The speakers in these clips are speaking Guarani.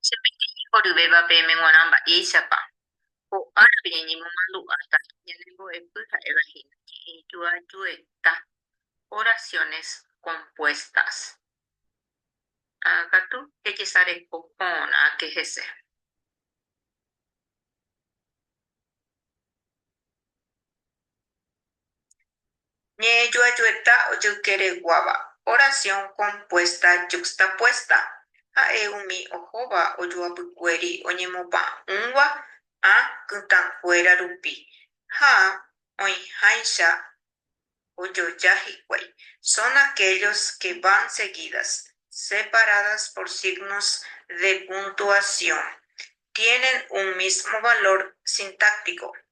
Che peteĩ mboryvéva peẽme g̃uarã mba'éichapa ko árape ñañemomandu'áta ñane mbo'epy ha'éva hína ñe'ẽ ijoajueta, oraciones compuestas. Ha katu ejesareko porãke hese. Ñe'ẽjoajueta ojoykereguáva, Oración compuesta yuxtapuesta, ha'e umi ohóva ojoapykuéri oñemopa'ũva ã kytãkuéra rupi ha oĩháicha ojoja hikuái. Son aquellos que van seguidas, separadas por signos de puntuación, tienen un mismo valor sintáctico.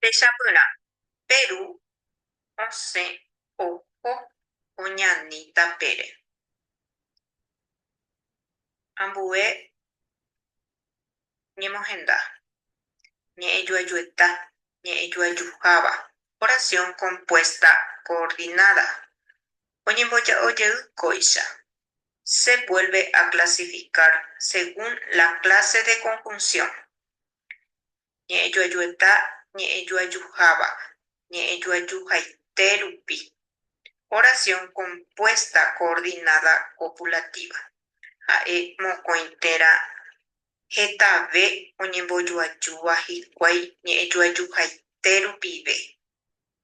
Techapyrã, pe ru osẽ oho oñani tapére. Ambue ñemohenda, ñe'ẽjuajueta, ñe'ẽjuajuháva. Oración compuesta coordinada. oñemboja'o jey kóicha. Se vuelve a clasificar según la clase de conjunción. Ñe'ẽjoajueta ñe'ẽjoajuháva ñe'ẽjoajuhaite rupi. Oración compuesta coordinada copulativa. Ha'e mokõi térã hetave oñembojoajúva hikuái ñe'ẽjoajuhaite rupive.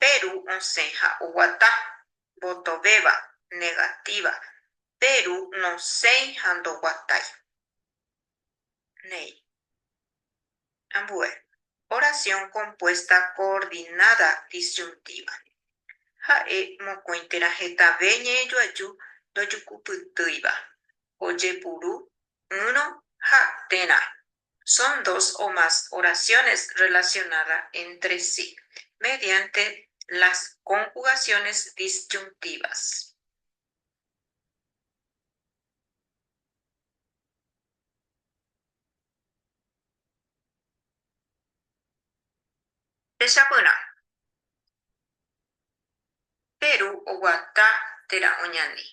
pe ru osẽ ha oguata, mbotovéva, negativa, pe ru nosẽi ha ndoguatái. Néi. Ambue. Oración compuesta coordinada disyuntíva. Ha'e mokõi térã hetave ñe'ẽjoaju ndojukupytýiva, ojepuru, ỹrõ ha térã, son dos o más oraciones relacionada entre sí mediante las conjugaciones disyuntivas. Techapyrã. Pe ru oguata térã oñani.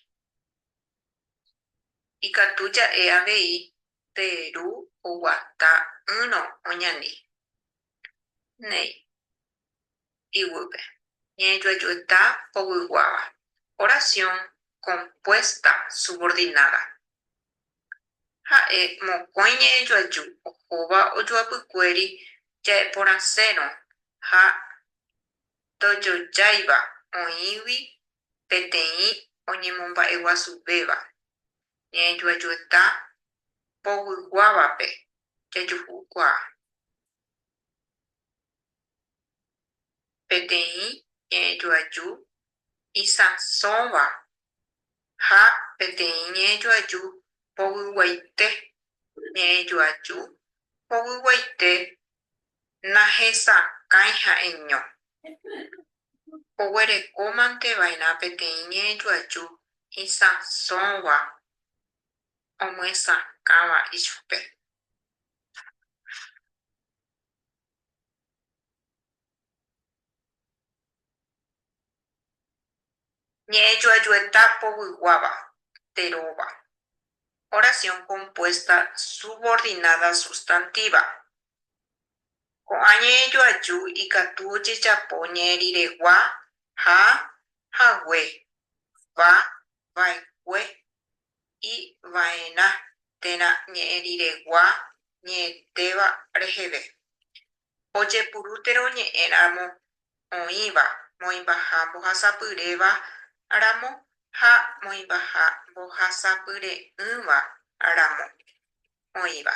Ikatu ja'e avei pe ru oguata ỹrõ oñani néi iguýpe. Ñanejoajoeta povyguáva, oración compuesta subordinada. Ha'e mokõi ñanejoaju ohóva ojoapykuéri ja'eporãsérõ ha ndojojáiva oĩgui peteĩ oñemomba'eguasuvéva, ñaejuajueta povyguávape jajuhukuaa, peteĩ ñaejuaju isãsõva ha peteĩ ñaejuaju povyguaite, ñaejuaju povyguaite nahesakãi ha'eño. oguerekómante va'erã peteĩ ñe'ẽjoaju isãsõgua omyesakãva ichupe. Ñe'ẽjoajueta povyguáva de róva. Oración compuesta subordinada sustantiva. Ko'ã ñe'ẽjoaju ikatu ojejapo ñe'ẽriregua ha hague, va, va'ekue, y va'erã térã ñe'ẽriregua ñe'ẽtéva reheve. Ojepurútero ñe'ẽramo oĩva moĩmbaha mbohasapyréva ramo ha moĩmbaha mbohasapyre'ỹva ramo oĩva.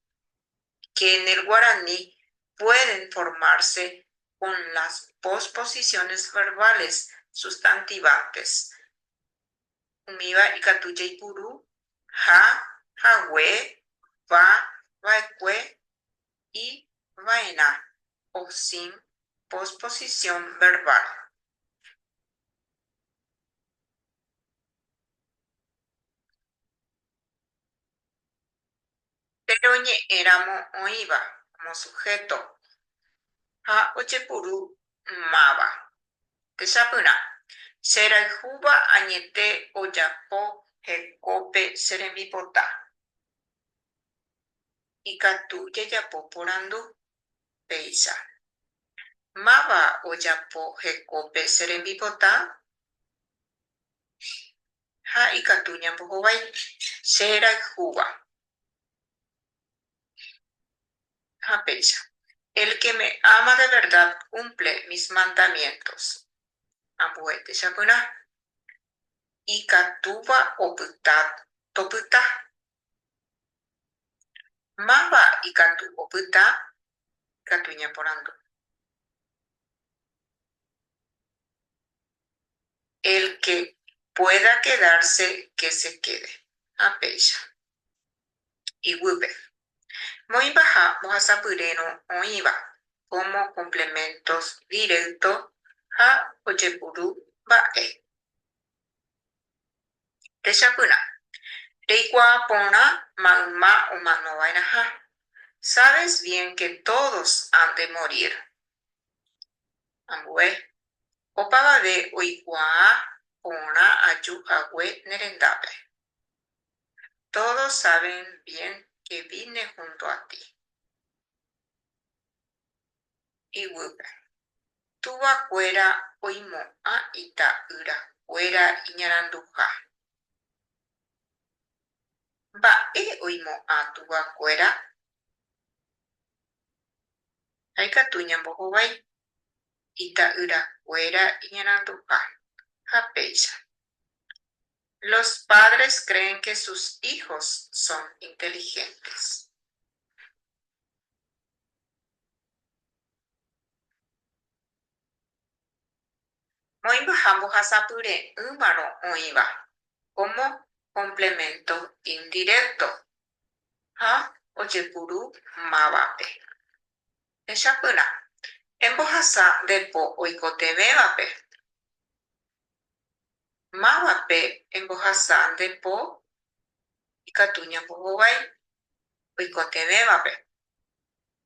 que en el guaraní pueden formarse con las posposiciones verbales sustantivantes. Umíva ikatu jaipuru ha, hague, va, va'ekue y va'erã o sin posposición verbal. Péro ñe'ẽramo oĩva kómo suhéto ha ojepuru máva. Techapyrã, Che rayhúva añete ojapo hekópe che rembipota. Ikatu jajapo porandu péicha, Máva ojapo hekópe che rembipota? ha ikatu ñambohovái che rayhúva. Ha péicha, El que me ama de verdad cumple mis mandamientos, ambue techapyrã ikatúva opyta topyta, Máva ikatu opyta ikatu ñaporandu. El que pueda quedarse que se quede. Ha péicha. Iguýpe. Moĩpaha mbohasapyrérõ oĩva como complementos directo ha ojepuru mba'e. Techapyrã, reikuaa porã mayma omanova'erãha, sabes bien que todos han de morir. Ambue, opavave oikuaa porã aju hague ne rendápe. Todos saben bien que vine junto a ti. Yvýpe. Túva kuéra oimo'ã ita'ýra kuéra iñaranduha. Mba'e oimo'ã túva kuéra? Ha ikatu ñambohovái ita'ýra kuéra iñaranduha. Ha péicha. Los padres creen que sus hijos son inteligentes. Moĩmbaha mbohasapyre'ỹvarõ oĩva como complemento indirecto ha ojepuru mávape. Techapyrã, embohasa nde po oikotevẽvape. Mávape embohasa nde po ikatu ñambohovái oikotevẽvape,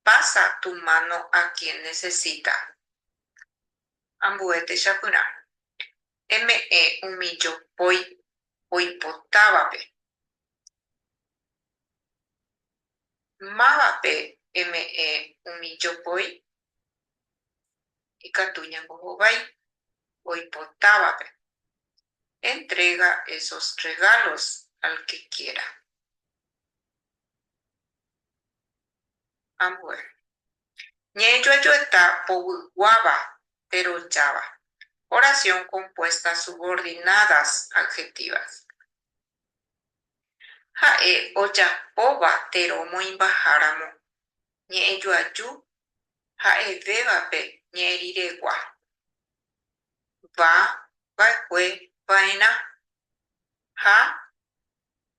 Pasa tu mano a quien necesita. Ambue techapyrã, eme'ẽ umi jopói oipotávape. Mávape eme'ẽ umi jopói? Ikatu ñambohovái oipotávape. Entrega esos regalos al que quiera. Ambue. Ñe'ẽjoajoeta povyguáva terojáva. Oración compuesta subordinadas adjetivas. Ha'e ojapóva tero moĩmbaháramo ñe'ẽjoaju ha'evévape ñe'ẽriregua. Va, va'ekue, va'erã. Ha,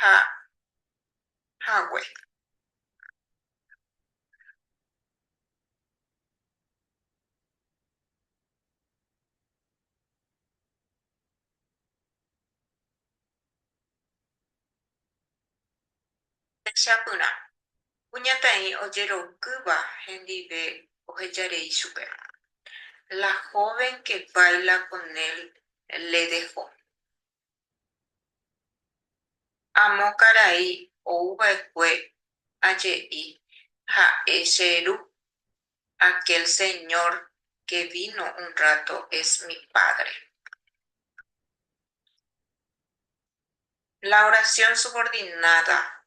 ha hague. Techapyrã, kuñataĩ ojerokýva hendive oheja rei chupe, La joven que baila con él le dejó. Amo karai ou va'ekue aje'i ha'e che ru, Aquel señor que vino un rato es mi padre. La oración subordinada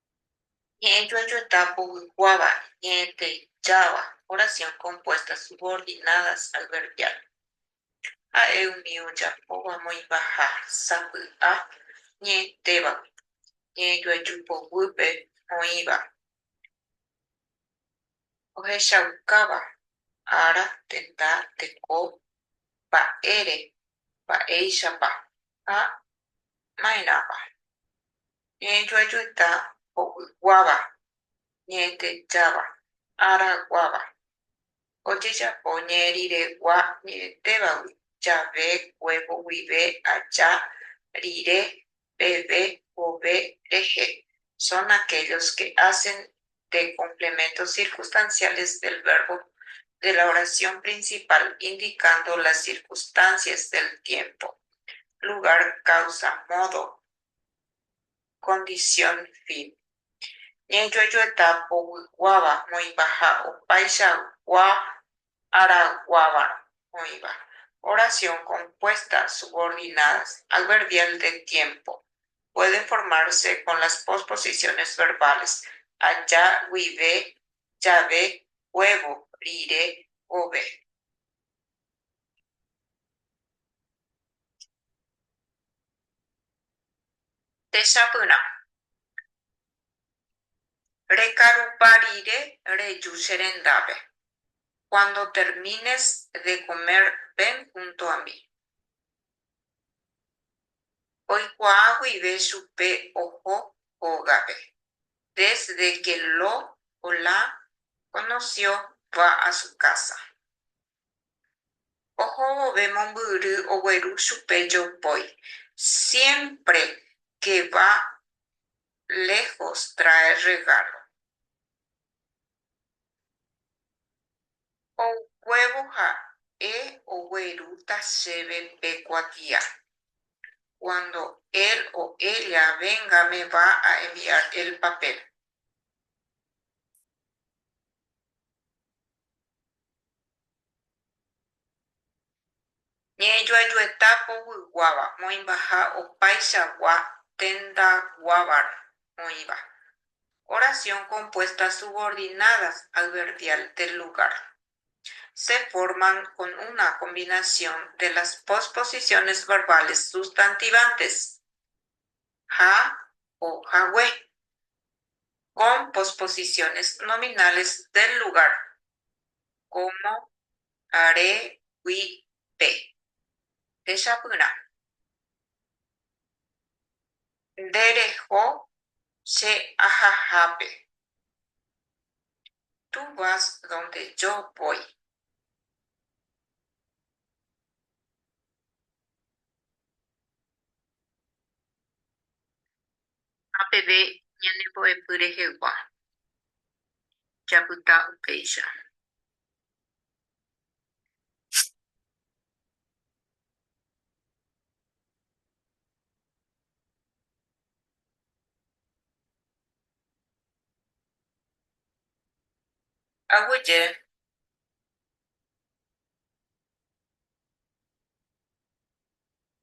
Ñe'ẽ joajota povykuáva, ñe'ẽteijáva, oración compuesta subordinadas al verbial. Ha'e umi ojapóva moĩmbaha sapy'a ñe'ẽtévagui, ñe'ẽjoaju poguýpe oĩva, ohechaukáva, ára, tenda, teko, mba'ére, mba'éichapa ha maerãpa. Ñe'ẽjoajueta ho'yguáva, ñe'ẽtejáva, araguáva. Ojejapo ñe'ẽriregua ñe'ẽtévagui, jave, huevo, guive, aja, rire, peve, vove, rehe, son aquellos que hacen de complementos circunstanciales del verbo de la oración principal indicando las circunstancias del tiempo, lugar, causa, modo, Condición fin. Ñajojoeta povykuáva oĩva ha opaichagua araguáva oĩva. Oración compuesta subordinadas adverbial de tiempo pueden formarse con las posposiciones verbales aja, guive, jave, huevo, rire, vove. Techapyrã. Rekarupa rire reju che rendápe. Cuando termines de comer ven junto a mí. Oikuaa guive chupe oho hógape. Desde que lo ola conoció va a su casa. Oho vove mombyry ogueru chupe jopói, siémpre ke va léjos traer rregálo. Oukuévo ha'e oguerúta chéve pe kuatia. Cuando él o ella venga me va a enviar el papel. Ñe'ẽjoajueta povyguáva moĩmbaha opaichagua tendaguávare oĩva. Oración compuestas subordinadas al verbial del lugar. Se forman con una combinación de las posposiciones verbales sustantivantes. ha o hague, con posposiciones nominales del lugar, como are gui pe, techapyrã. Nde reho che ahahápe. Tú vas donde yo voy. Ha peve ñanembo'epy rehegua, japyta upéicha. Aguyje,